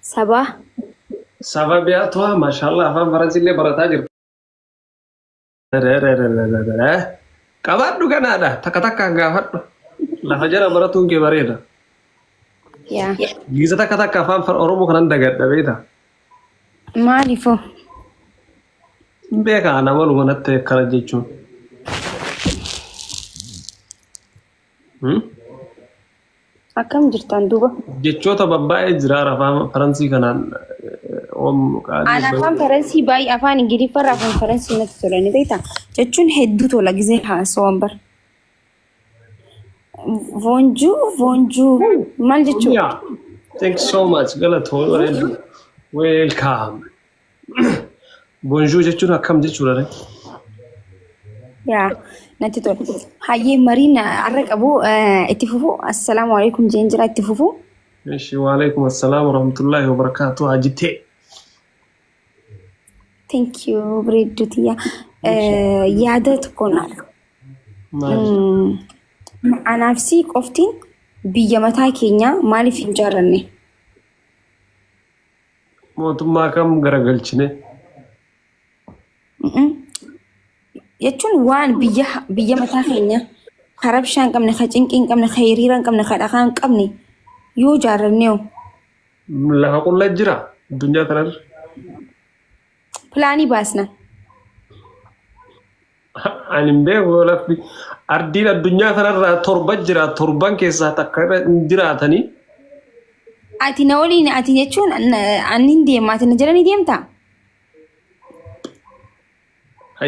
Sabaa. Saba biyaa tuwa mashallah afaan faransillee barataa jirta. Qabaadhu ganaadha takka takkaan gaafadhu. Lafa jala baratuun kee bareeda. Yaa. Giza takka takka afaan far- oromoo kanan dagadha beekta. Maaliifoo? Beekaa ana maluma natti akkana jechuun. Hmm? Akkam jirtan duuba? Jechoota babbaa'ee jira afaan Faransii kanaan oom qaalii. Aan afaan Faransii baay'ee afaan Ingiliffaa irraa afaan Faransii natti tola ni beektaa? Jechuun hedduu tola gisee haasawaan bara. Voonjuu voonjuu maal jechuudha? Thanks so much. Galatoo. Welcome. Bonjour jechuun akkam jechuudha ree? yaa natti tola. Hayyee mariin har'a qabu eh, itti fufu. Assalaamu alaikum jeen jira itti fufu. Eshi waalaikum assalaam warahmatullahi wabarakaatu hajitee. Thank you bareedduu tiyya. Eh, Yaada tokko naa Maali? Mm, Anaaf si qoftiin biyya mataa keenyaa maaliif hin jaaranne? Mootummaa kam garagalchine? Jechuun waan biyya biyya mataa keenya ka rabshaa hin qabne, ka cinqii hin qabne, ka hiriira hin qabne, ka dhakaa hin qabne yoo ijaarranne hoo? Lafa qulla jira addunyaa tanarra. Pilaanii baasna. Ani hin beeku lafti ardiin addunyaa kanarraa torba jira torban keessaa takka irra hin jiraatanii. Ati na waliin ati jechuun ani hin deema ati na jala ni deemta.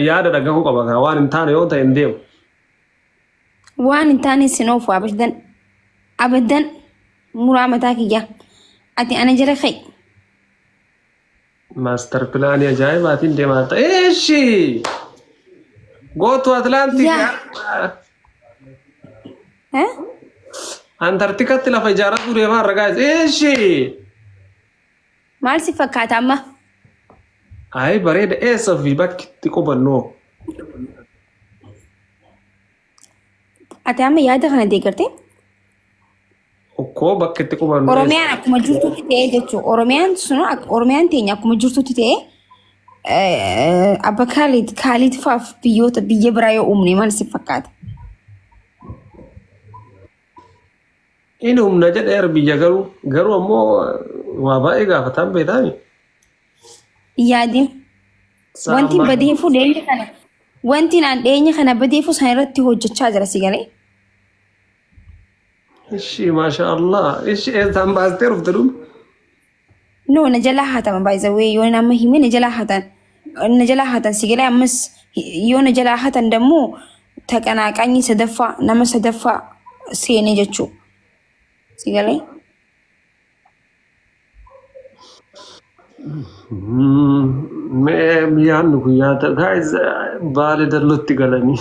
Yaada dhagahuu qaba kaa waan hin taane yoo ta'e hin deemu. Waan hin taane sin oofu abaddan abaddan muraa mataa kiyya ati ana jala ka'i. Master pilaanii ajaa'ibaatiin deemaa jirta. Eeshi! Gootu Atlaantik Yaa. Eh? Antarktikatti lafa ijaarratu deemaa ragaa isa. Eeshi! Maal si fakkaata amma? Ayi bareeda eessa fi bakki itti qubannoo. Ati amma yaada kana deeggartee? Okkoo bakka itti qubannu. Oromiyaan akkuma jirtutti ta'ee jechuudha. Oromiyaan sun Oromiyaan teenya akkuma jirtutti ta'ee abba Kaalid Kaalid faaf biyyoota biyya biraa yoo uumne maal si fakkaata? Inni humna jedheera biyya garuu garuu ammoo waa baay'ee gaafataan beektaani. hin yaadin. Wanti Salaam badeefuu dhiyeenya kana wanti naan dhiyeenya kana badeefuu sana irratti hojjechaa jira si galee. Ishii maashaa Allah. Ishii eessaan baastee dhufte dhuma? No na jalaa haatama by the way yoo nama hime na jalaa haatan na jalaa haatan si galee ammas yoo na jalaa haatan dammoo taqanaaqanyi sadaffaa nama sadaffaa seene jechuu si galee. Mee yaadni kun yaada guys baale dallutti galanii.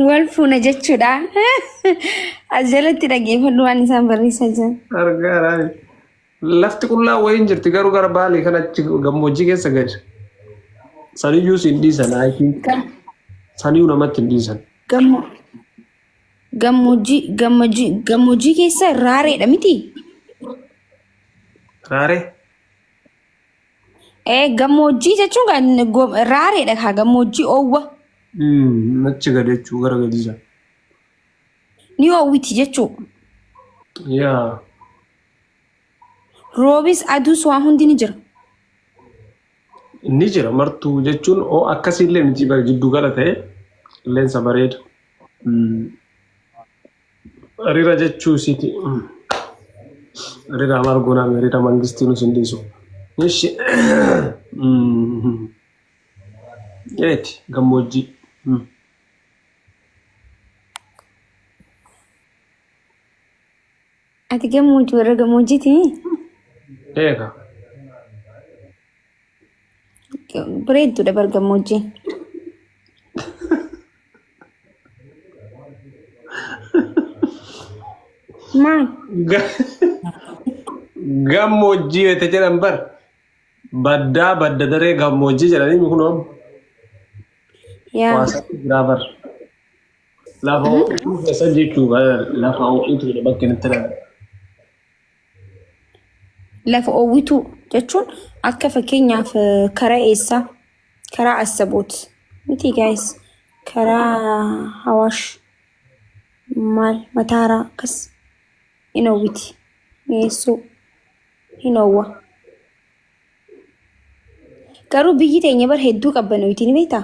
Wal fuuna jechuudha. As jalatti dhaggeeffadhu waan isaan barreessaa jiran. Argaa raani. Lafti qullaa wayiin jirti garuu gara baalee kan achi gammoojjii keessa gadi. Saniyyuu siin dhiisan I think. Saniyyuu namatti hin dhiisan. Gammoo. Gammoojjii gammoojjii gammoojjii keessa raareedha miti? Raaree? Ee gammoojjii jechuun kan go- raareedha kaa gammoojjii oowwa Mm, achi gad jechuu gara gadii jira. ni oowwiti jechuu. Yaa. Roobis aduus waan hundi ni jira. Ni jira martuu jechuun oo akkasii illee miti bara jidduu gala ta'e qilleensa bareeda. Rira jechuu isiiti. Rira maal goonaa mee rira mangistii nus hin dhiisu. Ishi. Eeti gammoojjii. Ati gammoojjii warra gammoojjiiti Eega. bareedduudha bar gammoojjiin. Maal? Ga- Gammoojjii wayita jedhan bar. Baddaa badda daree gammoojjii jedhanii kunoo Yaa. waasaa jiraa bar. Lafa ho'ituu keessan jechuu lafa ho'ituudha bakka inni itti lafa. Lafa ho'ituu jechuun akka fakkeenyaaf karaa eessaa karaa assaboot miti gaayis karaa hawaash maal mataaraa akkas hin hawwiti mi'eessuu hin hawwa. Garuu biyyi teenya bar hedduu qabbanoyti ni beektaa?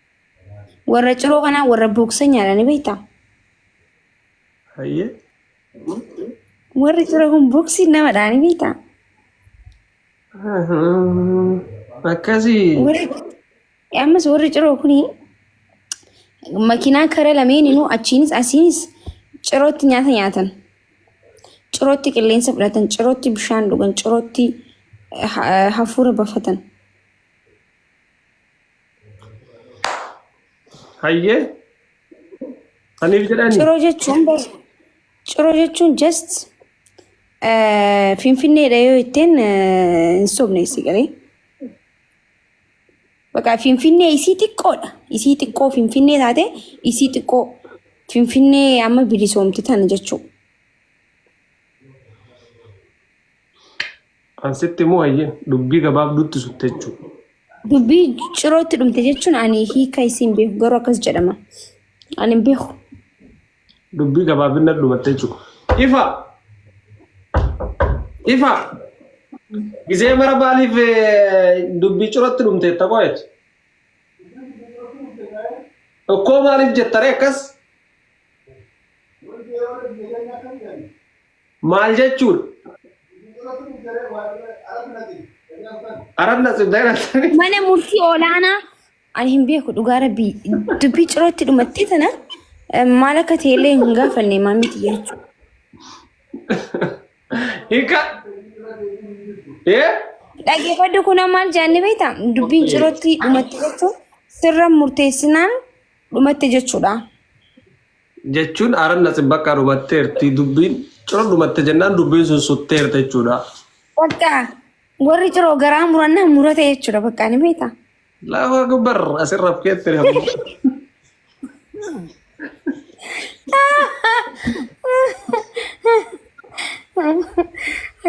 Warra ciroo kanaa warra booksa nyaata ni beektaa? Hayyee. Warri ciroo kun booksii nama dhaani beektaa? Akkasii. Warri ammas warri ciroo kun makiinaa kara lameeninuu achiinis asiinis cirootti nyaata nyaatan. Cirootti qilleensa fudhatan, cirootti bishaan dhugan, cirootti eh, ha- hafuura bafatan. Hayyee. Saniif jedhani. Ciroo jechuun bas- ciroo jechuun just eh, finfinneedha yoo ittiin eh, hin sobne isii galee. Bakka finfinnee isii xiqqoodha. Isii xiqqoo finfinnee taate isii xiqqoo finfinnee amma bilisoomti tana jechuudha. An sitti moo hayyeen dubbii gabaabduutti sutte jechuudha. Dubbii cirootti dhumte jechuun ani hiika isiin beeku garuu akkas jedhama. Ani hin beeku. Dubbii gabaabinna dhumatte jechuudha. Ifa! Ifa! Gisee mara maaliif eh, dubbii cirootti dhumte jetta qo'eet? Tokkoo maaliif jetta ree akkas? Maal jechuudha? Arat nasib dagana sami. Mana murtii olaanaa ani hin beeku dhugaa rabbii dubbii cirootti dhumattee tana eh, maal akka ta'e illee hin gaafanne maamiti jechuudha. Hika. Eh? Dhaggeeffadhu kun maal jaanni beektaa? Dubbiin Okkee. cirootti dhumatte jechuun sirra murteessinaan dhumatte jechuudha. jechuun aranna xibbaqqa dhumatteerti dubbiin ciro dhumatte jennaan dubbiin sun sutteerta jechuudha. Bakka warri ciroo garaa murannaan murate jechuudha bakka ni beektaa. Allahu akbar asirra keetti ammoo.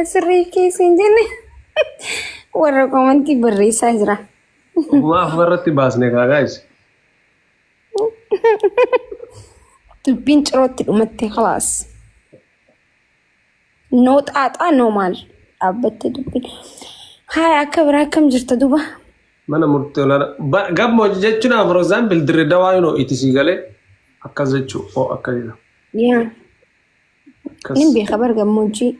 Asirrii keessa hin jenne warra komantii barreessaa jira. Maaf irratti baasne kaa gaa'is. Dubbiin cirootti dhumatte kalaas. Noo xaaxaa noo maal dhaabbatte dubbiin. Haaya akka biraa akkam jirta duba? Mana murtii olaanaa. Ba- Gammoojji jechuun for example dirre dawaa yoo itti sii galee akkas jechuu oo akka jedha. Yaa. Akkas. Nin beeka bar gammoojjii.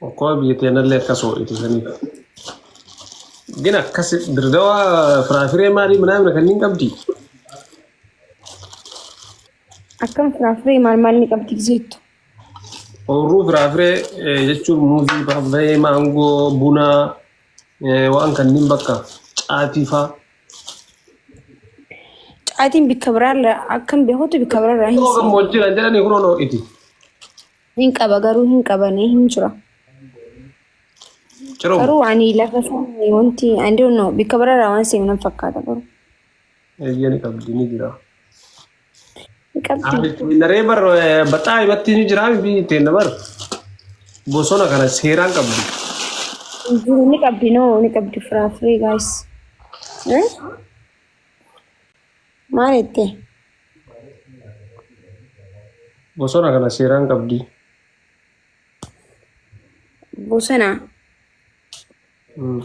Okkoo biyya teenallee akkas ho'itu saniif. Gina akkas dirdawa firaafiree maalii minaamina kanneen qabdi. Akkam firaafiree maal maal ni qabdi gizeettu. Oorruu firaafiree eh, jechuun muuzii, paappaayee, maangoo, bunaa eh, waan kanneen bakka caatii faa. Caatiin bikka biraarra akkan beekutti bikka biraarra hin Yoo gammoojjiidhaan jedhanii kunoo ho'iti. Hin qaba garuu hin qabane hin jira. Ciroo. Garuu ani lafa sana wanti I don't know bikka biraarraa waan seenu nan fakkaata garuu. Eeyyee ni qabdi ni jira. Ni qabdi. Naree bar baxaa himatti ni jira fi teenna bar bosona kana seeraan qabdi. Hin jiru, Ni qabdi noo ni qabdi firaafiree gaayis. Maal jettee? Bosona kana seeraan qabdi. Bosona. Mm.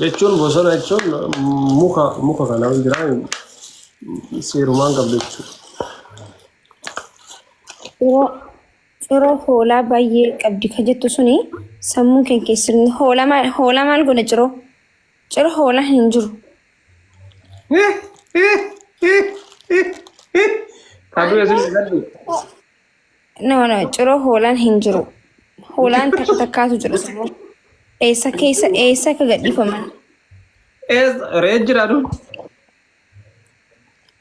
Jechuun bosona jechuun mm, muka muka kana ol jira mm, seerumaan qabdi jechuudha. Ciroo. Ciroo hoolaa baay'ee qabdi kan jettu suni sammuu kee keessatti hoola maal hoola maal godha ciroo? Cira hoolaa hin jiru. Kaduu esin gaddu. No, no, cira hoolaan hin jiru. Hoolaan takka takkaatu jira sirrii. Eessa keessa eessa akka gadhiifaman. Ees ree jira du.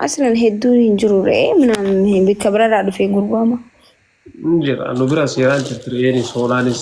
Aslan hedduun hin jiru re'ee minaan bakka biraarraa dhufee gurgurama. Jira nu bira seeraan jirti re'eenis hoolaanis.